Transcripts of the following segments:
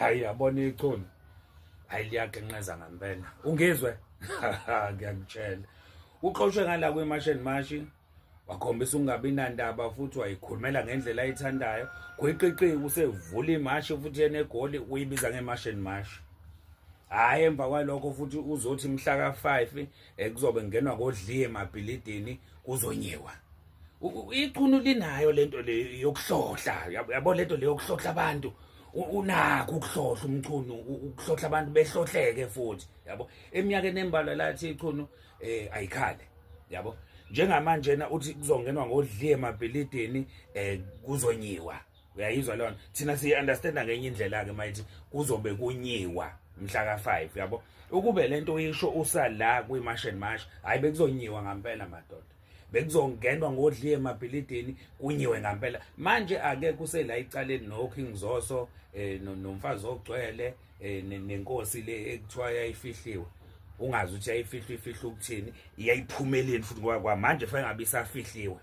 hayi yabona ichunu hayi liyagenqeza ngampela ungizwe ngiyakutshela uxoshwe ngala kwemasheni mashi wakhombisa ukungabi nandaba futhi wayikhulumela ngendlela ayithandayo gwiqiqiki usevula imashi futhi yena egoli uyibiza ngemasheni mashi hhayi emva kwalokho futhi uzothi mhla ka-five eh, kuzobe ngenwa kodliye emabhilidini kuzonyiwa ichunu linayo lento le yokuhlohla yabo lento le yokuhlohla abantu unakho ukuhlohla umchunu ukuhlohla abantu behlohleke futhi yabo eminyakeni embalwa lathi ichunu eh ayikhale yabo njengamanje na uthi kuzongenwa ngodliye emabhilidini eh kuzonyiwa uyayizwa lona thina siyi understand ngenye indlela ke mayithi kuzobe kunyiwa mhla ka 5 yabo ukube lento uyisho usala kwi march and march hayi bekuzonyiwa ngampela madoda bekuzongenwa ngodliye emabhilidini kunyiwe ngampela manje ake kusela icaleni no King Zoso eh nomfazi ogcwele eh, nenkosi le ekuthiwa yayifihliwe ungazi ukuthi yayifihlwa ifihlwa ukuthini iyayiphumeleni futhi ngoba kwamanje fanele ngabe isafihliwe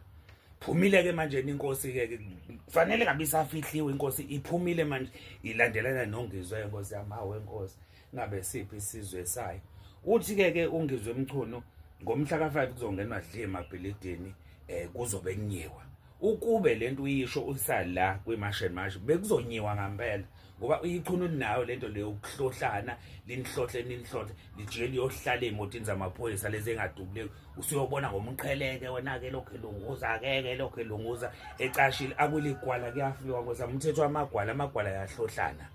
phumile ke manje inkosi ke kufanele ngabe isafihliwe inkosi iphumile manje ilandelana nongizwe inkosi yamawe inkosi ngabe siphi isizwe sayo uthi ke ke ungizwe mchunu ngomhla ka5 kuzongenwa dle emabhilidini eh kuzobe kunyiwa ukube lento uyisho usala kwimash and mash bekuzonyiwa ngempela ngoba uyichunu nayo lento leyo ukuhlohlana linihlohle ninihlohle lijike liyohlala emotini zamaphoyisa lezi engadubuleki usuyobona ngomqheleke wena-ke lokhu elunguza akeke lokhu elunguza ecashile akuligwala kuyafiwa ngoza umthetho wamagwala amagwala yahlohlana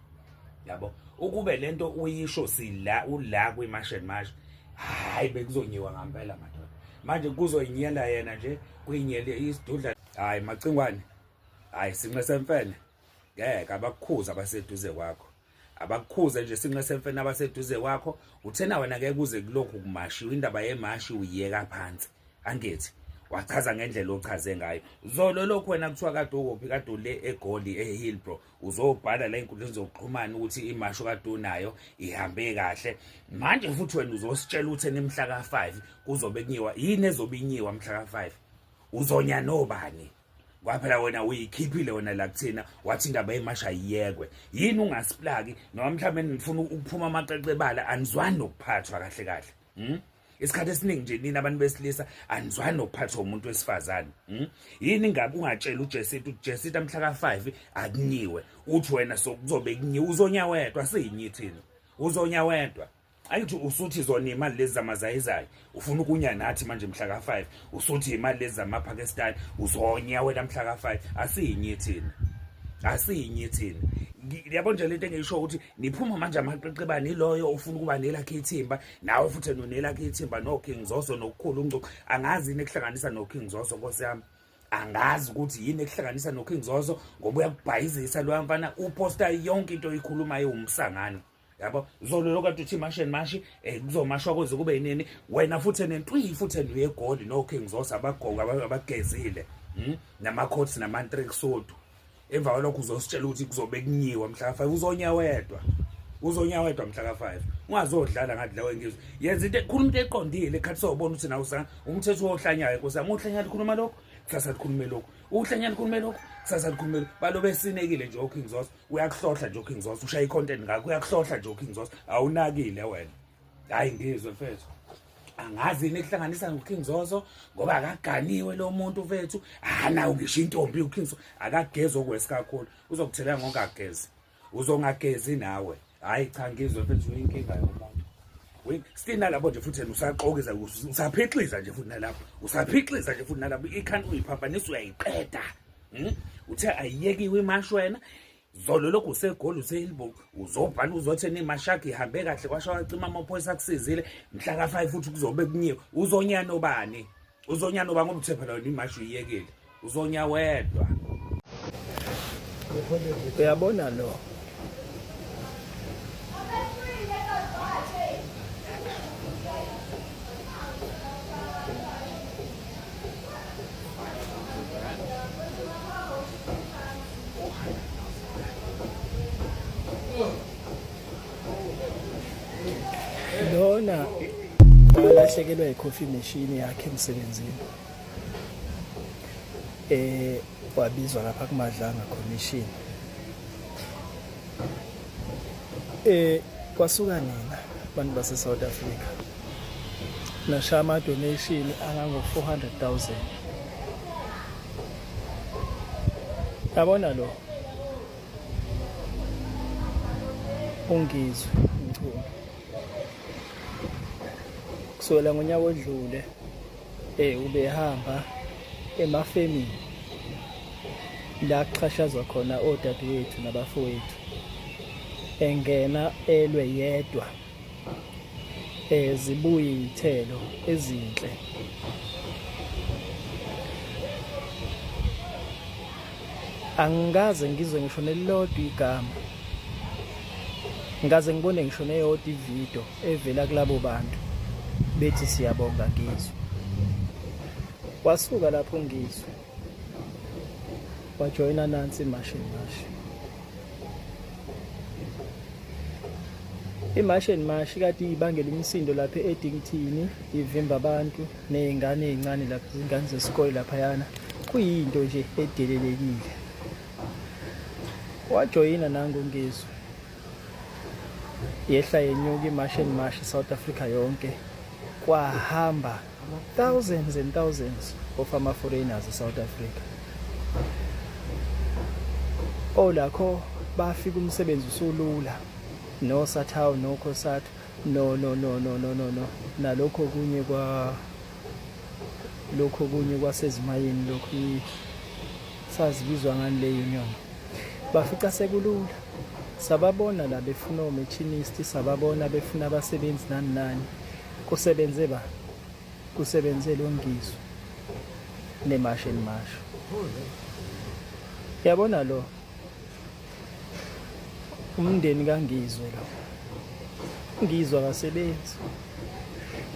yabo ukube lento uyisho sila ula kwi-martian marsh hhayi bekuzonyiwa ngampela madoda manje kuzoyinyela yena nje kuyinyele isidudla hhayi macingwane hhayi sinxe semfene ngeke abakukhuza abaseduze kwakho abakukhuze nje sinqe semfene abaseduze kwakho uthena wena ngeke kuze kulokhu kumashiwa indaba yemashi uyiyeka phansi angithi wachaza ngendlela ochaze ngayo zolo lokhu wena kuthiwa kade ukuphi kade ule egoli ehillbro uzobhala la enkundleni zokuxhumana ukuthi imasho kade unayo ihambe kahle manje futhi wena uzositshela ukuthi enemhla ka-five kuzobe kunyiwa yini ezobe inyiwa mhla ka-five uzonya nobani kwaphela wena uyikhiphile wena la kuthina wathi indaba yemasha yiyekwe yini ungasiplaki noma mhlawumbe nifuna ukuphuma amaqeqe ebala anizwani nokuphathwa kahle kahle hmm? isikhathi esiningi nje nina abantu besilisa anizwani nokuphathwa umuntu wesifazane hmm? yini ngabe ungatshela ujesita ukuthi jesita mhla ka-five akunyiwe uthi wena sokuzobe kunyiwe uzonya wedwa siyinyi thina uzonya wedwa angithi usuthi zona imali lezi zamazayizayi ufuna ukunya nathi manje mhla ka-5 usuthi imali lezi zamapakistani uzonya wena mhla ka-5 asiyinye thina asiyinye thina yabo nje lento engiyisho ukuthi niphuma manje amaqeqebane iloyo ufuna ukuba nelakhe ithimba nawe futhi nonelakhe ithimba no-king zoso nokukhulu ungcuku angazi yini ekuhlanganisa no-king zoso nkosi yami angazi ukuthi yini ekuhlanganisa no-king zoso ngoba uyakubhayizisa loya mfana uposta yonke into oyikhulumayo wumsangano yabo zolo lokade uthi mashi and mashi um kuzomashwa kuze kube yinini wena futhi nentwiyi futhi enduyegoli no-king zosa abagogo abagezile hmm? nama-coats namantrek sodu emva kwalokho uzositshela ukuthi kuzobe kunyiwa mhla ka-five uzonya wedwa uzonya wedwa mhla ka-five ungazodlala ngathi lawo engizwe yenza into khuluma into eqondile ekhathi sobona ukuthi nawo sa umthetho wohlanyayo nkosi yami uhlanya likhuluma lokho kusasa likhulume lokho uhlanya likhulume lokho kusasa likhulume lokho balo besinekile nje oking zosa uyakuhlohla nje uKing Zoso ushaya icontent ngakho uyakuhlohla nje uKing Zoso awunakile wena hayi ngizwe mfethu angazi yini ekuhlanganisa noKing Zoso ngoba akaganiwe lo muntu mfethu hanawo ngisho intombi uKing Zoso akagezi okwesi kakhulu uzokuthelela ngokagezi uzongagezi nawe hayi cha ngizwe mfethu uyinkinga yomuntu still nalapho nje futhi usaxokiza usaphixliza nje futhi nalapho usaphixliza nje futhi nalapho ikhanda uyiphambanisa uyayiqeda Hmm? Uthe ayiyekiwe imashi wena zolo lokhu usegoli usehilbo uzobhala uzothi nemashaki ihambe kahle kwasho wacima amaphoyisa akusizile mhla ka-5 futhi kuzobe kunyiwe uzonyana obani uzonyana oba ngoba uthe phela wena imashi uyiyekile uzonya wedwa uyabona lo lona walahlekelwa yi-coffee machine yakhe emsebenzini eh wabizwa lapha kumadlanga commission Eh kwasuka nina abantu base South Africa. Nasha ama donation angango 400,000. Yabona lo. Ungizwe mchunu. Kusukela ngonyaka odlule Eh ubehamba emafemini la kuxhashazwa khona odadewethu nabafowethu engena elwe yedwa eh zibuye izithelo ezinhle angikaze ngizwe ngisho nelilodwa igama ngikaze ngibone ngisho neyodwa ividiyo evela kulabo bantu bethi siyabonga ngizwe wasuka lapho ngizwe wajoyina nansi imashi mashi imashi and mashi kade ibangela imisindo lapha edingithini ivimba abantu nezingane ezincane lapha izingane zesikole lapha yana kuyinto nje edelelekile wajoyina nangu ngizwe yehla yenyuka imash and mash South Africa yonke kwahamba thousands and thousands of ama foreigners eSouth Africa olakho bafika umsebenzi usulula no sathawu no khosathu no no no no no no no nalokho kunye kwa lokho kunye kwasezimayini lokhu sazibizwa ngani le union bafica sekulula Sababona la befuna omachinist, sababona befuna abasebenzi nani nani. Kusebenze ba? Kusebenze lo ngizwe. Nemashe nemashe. Yabona lo umndeni kangizwe lo ngizwa kasebenzi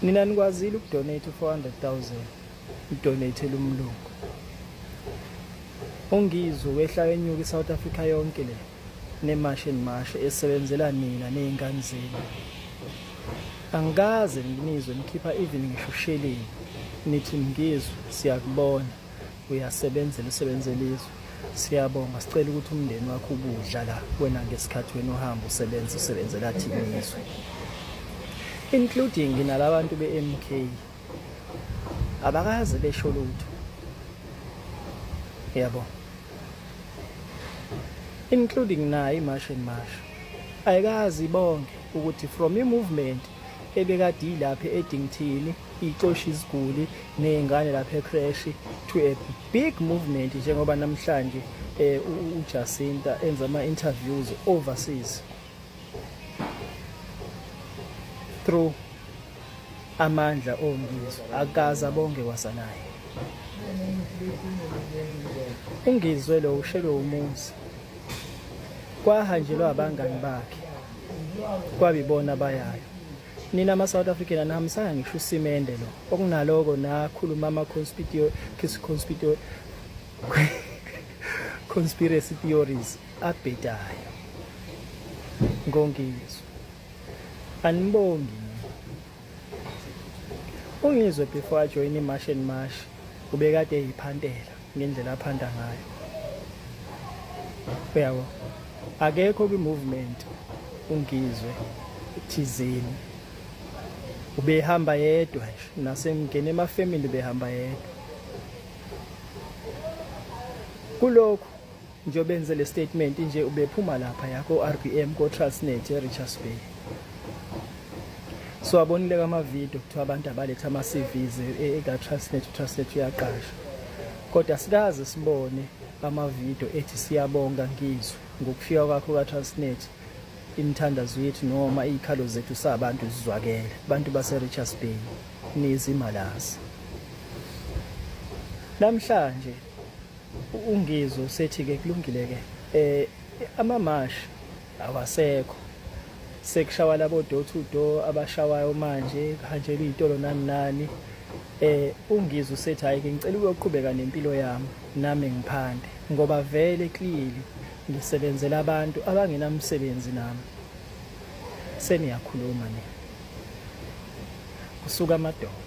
nina nikwazile ukudonate u-400,000 udonate lumlungu ungizwe wehla wenyuka iSouth Africa yonke le nemashe nemashe esebenzela nina nezingane zenu angikaze nginizwe nikhipha even ngisho sheleni nithi ngizwe siyakubona uyasebenzela usebenzela izwe siyabonga sicela ukuthi umndeni wakho ubudla la wena ngesikhathi wena uhamba usebenza usebenzela thina izwe including nalabantu be-MK abakaze besho lutho yabo including naye imash and mash ayikazi bonke ukuthi from i-movement ebekade ilapha edingthini ixosha iziguli nezingane lapha ecrash to a big movement njengoba namhlanje eh uJacinta enza ama interviews overseas through Amandla oNgizwe akaza bonke kwasanaye. UNgizwe lo ushelwe umuzi. Kwahanjelwa abangani bakhe. Kwabibona abayayo. Nina ama South African anihambisanga ngisho usimende lo. Okunaloko nakhuluma ama conspitio conspitio conspiracy theories abhedayo. Ngongizwe. Anibongi. Ungizwe before I join iMash and Mash ubekade eyiphantela ngendlela aphanda ngayo. Uyabo? Akekho kwi-movement ungizwe thizeni. Ubehamba yedwa nje nasemngene emafemini ubehamba yedwa. Kulokhu Njengoba enze le statement nje ubephuma lapha ya ko-RBM ko-Transnet e-Richards Bay. So abonile kamavidiyo kuthiwa abantu abaletha ama-CVs eka-Transnet, e, e, uTransnet uyaqasha. Kodwa sikaze sibone amavidiyo ethi siyabonga ngizwe ngokufika kwakho ka-Transnet imithandazo yethu noma iy'khalo zethu sabantu zizwakele abantu base-Richards Bay nizimalazi namhlanje UNgizwe usethi-ke kulungile-ke um amamashi awasekho sekushawa labo door to door abashawayo manje kuhanjelwa iy'tolo nani nani eh ungizwe usethi hayi ke ngicela ukuyoqhubeka nempilo yami nami ngiphande ngoba vele clearly ngisebenzela abantu abangenamsebenzi nami seniyakhuluma nina kusuka amadoda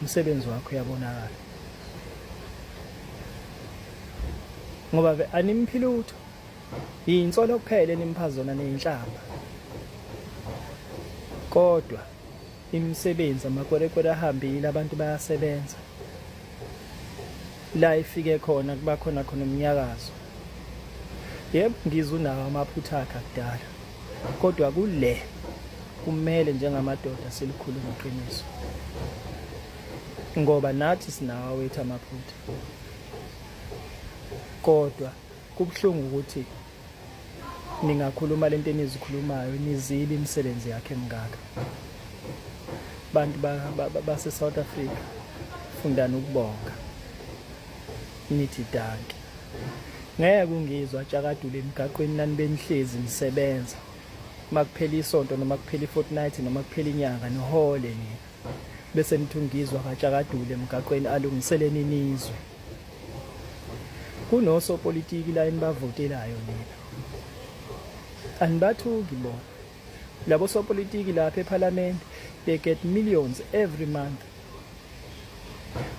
umsebenzi wakho uyabonakala ngoba ke animphi lutho yinsolo kuphela enimupha zona neyinhlamba kodwa imisebenzi amakwerekwere ahambile abantu bayasebenza la ifike khona kuba khona khona umnyakazo yebo ngizwe unawo amaphutha akhe akudala kodwa kule kumele njengamadoda silikhulume iqiniso ngoba nathi sinawo wethu amaphutha kodwa kubuhlungu ukuthi ningakhuluma lento enizikhulumayo nizibe imisebenzi yakhe mngaka bantu base South Africa fundani ukubonga nithi danki ngeke ungizwa atshakadule emgaqweni nani benihlezi nisebenza uma kuphela isonto noma kuphela i-fortnight noma kuphela inyanga nihole nina bese nithi ungizwa katshakadule emgaqweni alungiseleni nizwe kunosopolitiki la enibavotelayo nina anibathuki bona labo sopolitiki lapha ephalamende they get millions every month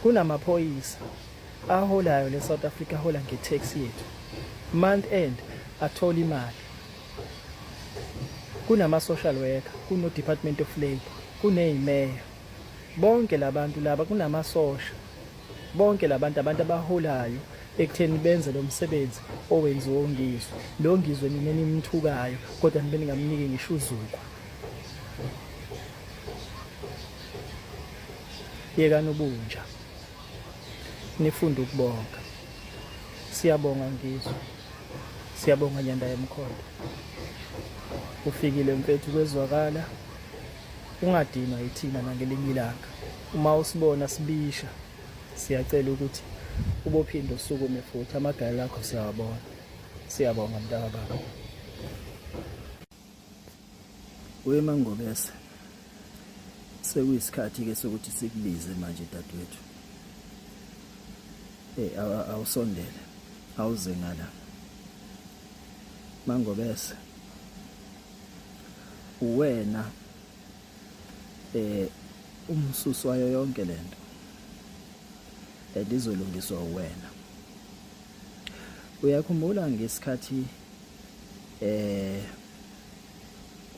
kunamaphoyisa aholayo le South Africa hola nge tax yethu month end athola imali kunama social worker kuno department of labor kunezimeya bonke labantu laba kunamasosha bonke labantu abantu abaholayo ekutheni benze lo msebenzi owenziwa ongizwe lo ngizwe nina nimthukayo kodwa nibe ningamniki ngisho uzukwa yekani ubunja nifunde ukubonga siyabonga ngizwe siyabonga nyanda yemkhonto ufikile mfethu kwezwakala ungadinwa yithina nangelinye ilanga uma usibona sibisha siyacela ukuthi ubophinde usukume futhi amagala akho siyawabona siyabonga mntaka baba Wemangobese sekuyisikhathi ke sokuthi sikubize manje dadwethu eh awusondele awuze ngala mangobese uwena eh umsusu wayo yonke lento elizolungiswa uwena uyakhumbula ngesikhathi eh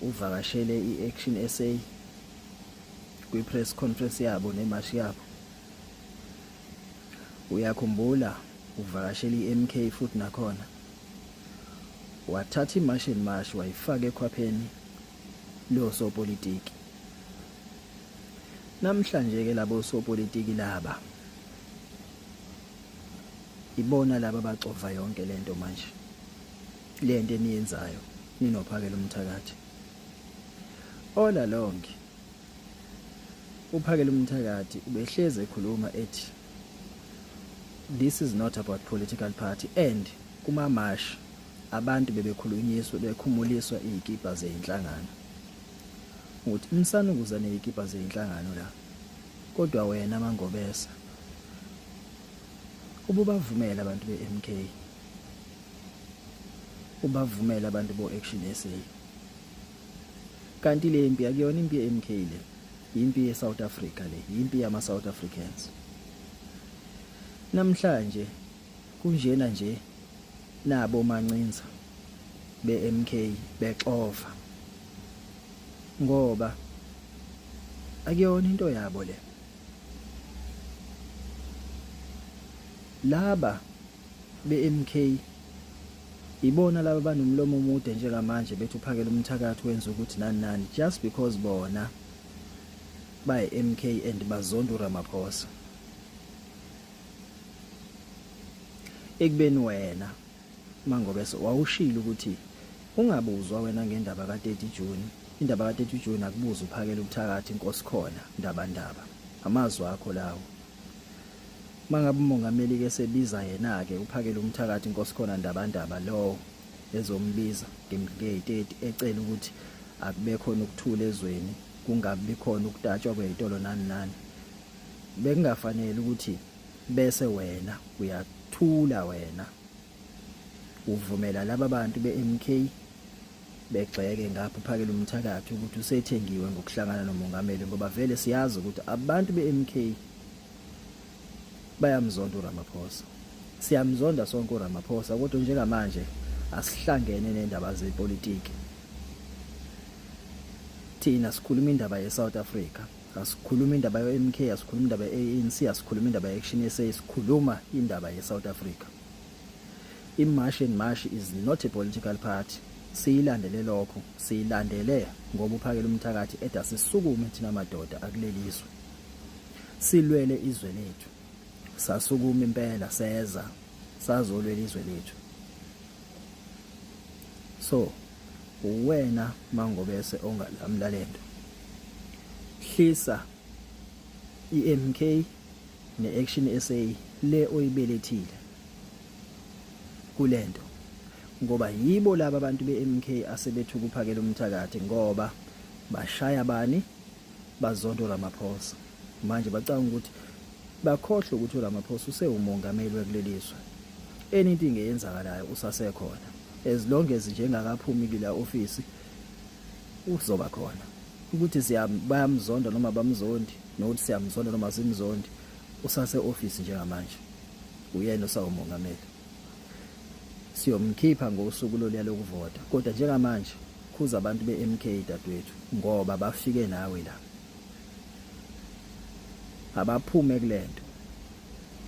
uvakashele i-Action SA kwi-press conference yabo nemashi yabo uyakhumbula uvakashele i-MK futhi nakhona wathatha imashi and mashi wayifaka ekhwapheni losopolitiki namhlanje ke labo sopolitiki laba ibona laba bacova yonke lento manje le nto eniyenzayo ninophakela umthakathi all along uphakela umthakathi ubehlezi ekhuluma ethi this is not about political party and kuma march abantu bebekhulunyiswa bekhumuliswa izikipa zeinhlangano ukuthi umsanukuza nezikipa zeinhlangano la kodwa wena mangobesa ububavumela abantu beMK ubavumele abantu bo action SA kanti le mpi akuyona impi ye MK le impi ye South Africa le impi yama South Africans namhlanje kunjena nje nabo mancinza be MK bexova ngoba akuyona into yabo le laba BeMK ibona laba banomlomo omude njengamanje bethi uphakela umthakathi wenza ukuthi nani nani just because bona baye MK and bazonda uRamaphosa ekubeni wena mangobe wawushilo ukuthi ungabuzwa wena ngendaba ka 30 June indaba ka 30 June akubuza uphakela umthakathi inkosi khona ndaba ndaba amazwi akho lawo Mangabe umongameli ke sebiza yena ke uphakele umthakathi inkosi khona ndabandaba lowo ezombiza ngemke30 ecela ukuthi akube khona ukuthula ezweni kungabi khona ukutatshwa kwezitolo nani nani bekungafanele ukuthi bese wena uyathula wena uvumela laba bantu be-MK begxeke ngapha uphakele umthakathi ukuthi usethengiwe ngokuhlangana nomongameli ngoba vele siyazi ukuthi abantu be-MK bayamzonda uRamaphosa siyamzonda sonke uRamaphosa kodwa njengamanje asihlangene nendaba zepolitiki thina sikhuluma indaba ye-South Africa asikhuluma indaba yo-mk asikhuluma indaba ye-anc asikhuluma indaba ye-action sa sikhuluma indaba ye-south africa imash and mash is not a political party siyilandele lokho siyilandele ngoba uphakela umthakathi eda sisukume thina madoda akulelizwe silwele izwe lethu sasukuma impela seza sazolwela izwe lethu so uwena mangobese ongalamla lento hlisa iMK neAction SA le oyibelethile kulento ngoba yibo laba abantu beMK asebethu kuphakela umthakathi ngoba bashaya bani bazonto Ramaphosa manje bacanga ukuthi bakhohlwe ukuthi uRamaphosa usewumongameli wekuleli zwe anything eyenzakalayo usasekhona as long as njengakaphumi kula office uzoba khona ukuthi siyabamzonda noma bamzondi nokuthi siyamzonda noma simzondi usase office njengamanje uyena osawumongameli siyomkhipha ngosuku loluya lokuvota kodwa njengamanje khuza abantu be-MK dadwethu ngoba bafike nawe la abaphume kulento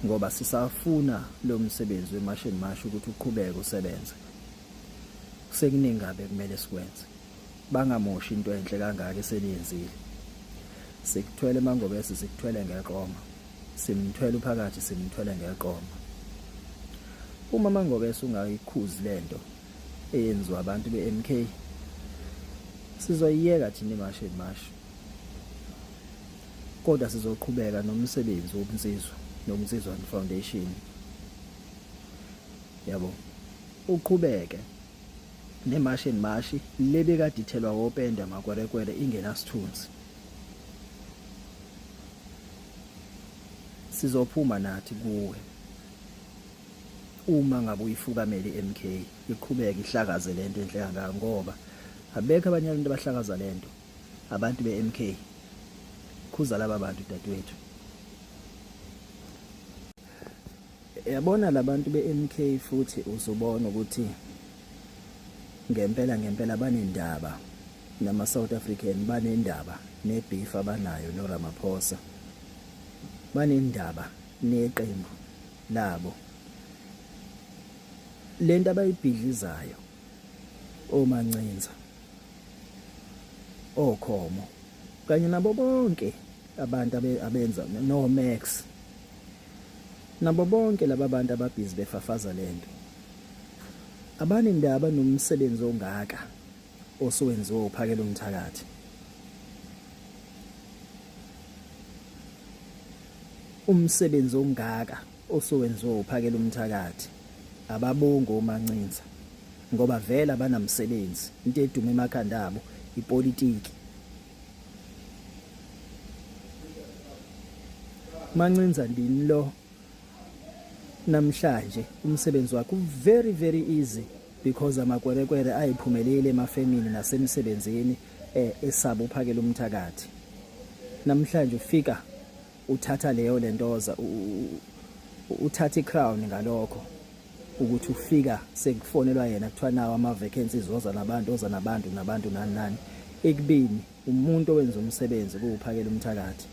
ngoba sisafuna lo msebenzi wemashini masho ukuthi uqhubeke usebenze sekuningi kabe kumele sikwenze bangamoshi into enhle kangaka eseniyenzile sikuthwele mangobese sikuthwele ngeqoma simthwele uphakathi simthwele ngeqoma uma mangobese ungayikhuzi lento eyenziwa abantu be-MK sizoyiyeka thina iMashi and Mashi kodwa sizoqhubeka nomsebenzi wobunsizwa nobunsizwa foundation yabo uqhubeke nemashi and mashi lebekadithelwa wopenda makwerekwere ingenasithunzi sizophuma nathi kuwe uma ngabe uyifukamele MK iqhubeke ihlakaze lento enhle kangaka ngoba abekho abanye abantu abahlakaza lento abantu be MK khuza laba bantu dadewethu yabona labantu be MK futhi uzobona ukuthi ngempela ngempela banendaba nama South African banendaba ne beef abanayo no Ramaphosa banendaba neqembu Nabo. Lento abayibhidlizayo omancinza okhomo kanye nabo bonke abantu abenza no Max nabo bonke laba bantu ababhizi befafaza lento abane ndaba nomsebenzi ongaka osuwenziwe uphakela umthakathi Umsebenzi ongaka osuwenziwa uphakela umthakathi ababongo omancinza ngoba vele abanamsebenzi into eduma emakhanda abo ipolitiki mancinza ndini lo namhlanje umsebenzi wakho very very easy because amakwerekwere ayiphumelele emafemini nasemsebenzini eh, esaba uphakela umthakathi namhlanje ufika uthatha leyo lentoza uthatha icrown ngalokho ukuthi ufika sekufonelwa yena kuthiwa nawo ama-vacancies oza nabantu oza nabantu nabantu nani nani ekubini umuntu owenza umsebenzi kuwuphakela umthakathi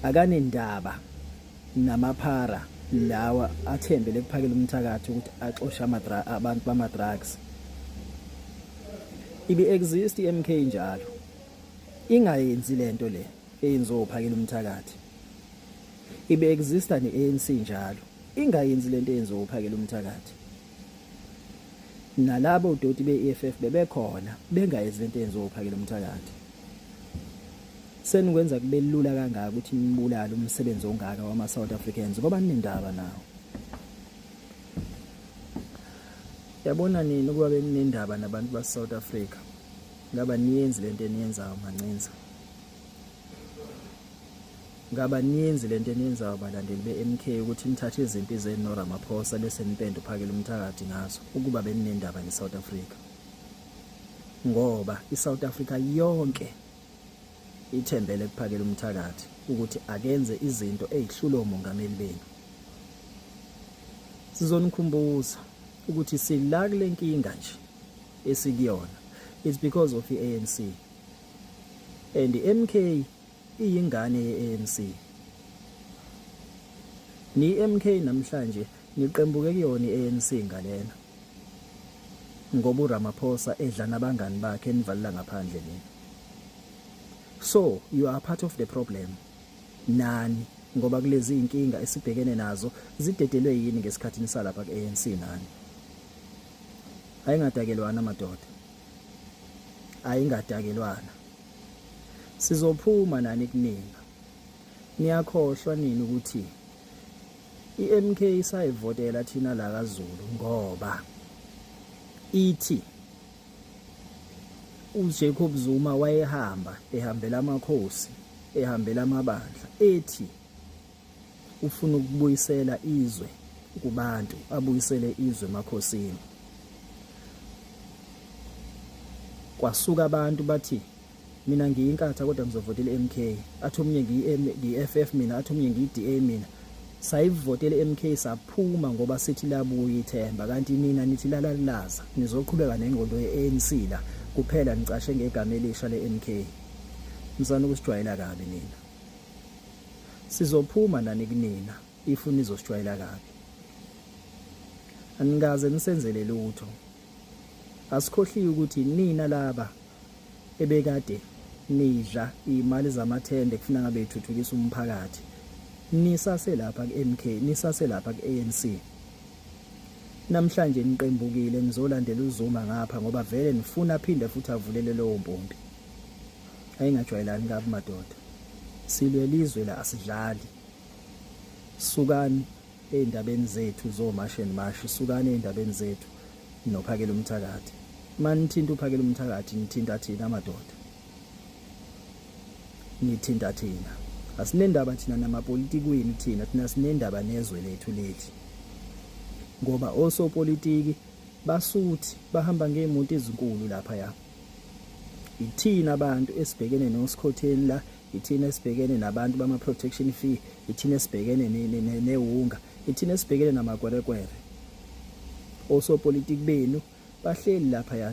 akanendaba namaphara lawa athembele kuphakela umthakathi ukuthi axoshe amadra abantu bama drugs ibi exist iMK njalo ingayenzi lento le eyenziwa uphakela umthakathi ibi exista neANC njalo ingayenzi lento eyenziwa uphakela umthakathi nalabo doti beEFF bebekhona bengayenzi lento eyenziwa uphakela umthakathi Senikwenza kube lula kangaka ukuthi nibulale umsebenzi ongaka wama South Africans ngoba ninendaba nawo. Yabona nini ukuba beninendaba nabantu ba South Africa? Ngaba niyenzi lento eniyenzayo mancinza. Ngaba niyenzi lento eniyenzayo balandeli beMK ukuthi nithathe izimpi zenu no Ramaphosa bese nipenda uphakela umthakathi ngazo ukuba beninendaba ne South Africa. Ngoba iSouth Africa yonke Ithembele kuphakela umthakathi ukuthi akenze izinto ezihlula omongameli benu. Sizonikhumbuza ukuthi sila kule nkinga nje esikuyona it's because of i-ANC and i-MK iyingane ye-ANC ni-MK namhlanje niqembuke kuyona i-ANC ngalena ngoba uRamaphosa edla nabangani bakhe enivalela ngaphandle nini so you are part of the problem nani ngoba kulezi inkinga esibhekene nazo zidedelwe yini ngesikhathi nisalapha kuANC nani ayingadakelwana madoda ayingadakelwana sizophuma nani kuningi niyakhohlwa nini ukuthi IMK isayivotela thina la kaZulu ngoba ithi uJacob Zuma wayehamba ehambela amakhosi ehambela amabandla ethi ufuna ukubuyisela izwe kubantu abuyisele izwe emakhosini kwasuka abantu bathi mina ngiyinkatha kodwa ngizovotela MK athi omunye ngiyi-FF mina athi omunye ngiyi-DA mina sayivotela MK saphuma ngoba sithi labuya ithemba kanti nina nithi lalalaza nizoqhubeka nengqondo ye-ANC la kuphela nicashe ngegama elisha le-MK msana ukusijwayela kabi nina sizophuma nani kunina if nizosijwayela kabi anikaze nisenzele lutho Asikhohliwe ukuthi nina laba ebekade nidla imali zamathende kufuna ngabe ithuthukisa umphakathi nisase lapha kuMK nisase lapha kuANC namhlanje niqembukile nizolandela uZuma ngapha ngoba vele nifuna phinde futhi avulele lowo mpompi ayingajwayelani kabi madoda silwelizwe la asidlali sukani ey'ndabeni zethu zomashi and mashi sukani ey'ndabeni zethu nophakela umthakathi mani nithinta uphakela umthakathi nithinta thina amadoda nithinta thina asinendaba thina namapolitikwini thina thina sinendaba nezwe lethu leli ngoba osopolitiki basuthi bahamba ngey'moto ezinkulu laphaya ithina abantu esibhekene nosikhotheni la ithina esibhekene nabantu bama protection fee ithina esibhekene newunga ithina esibhekene namakwerekwere osopolitiki benu bahleli lapha ya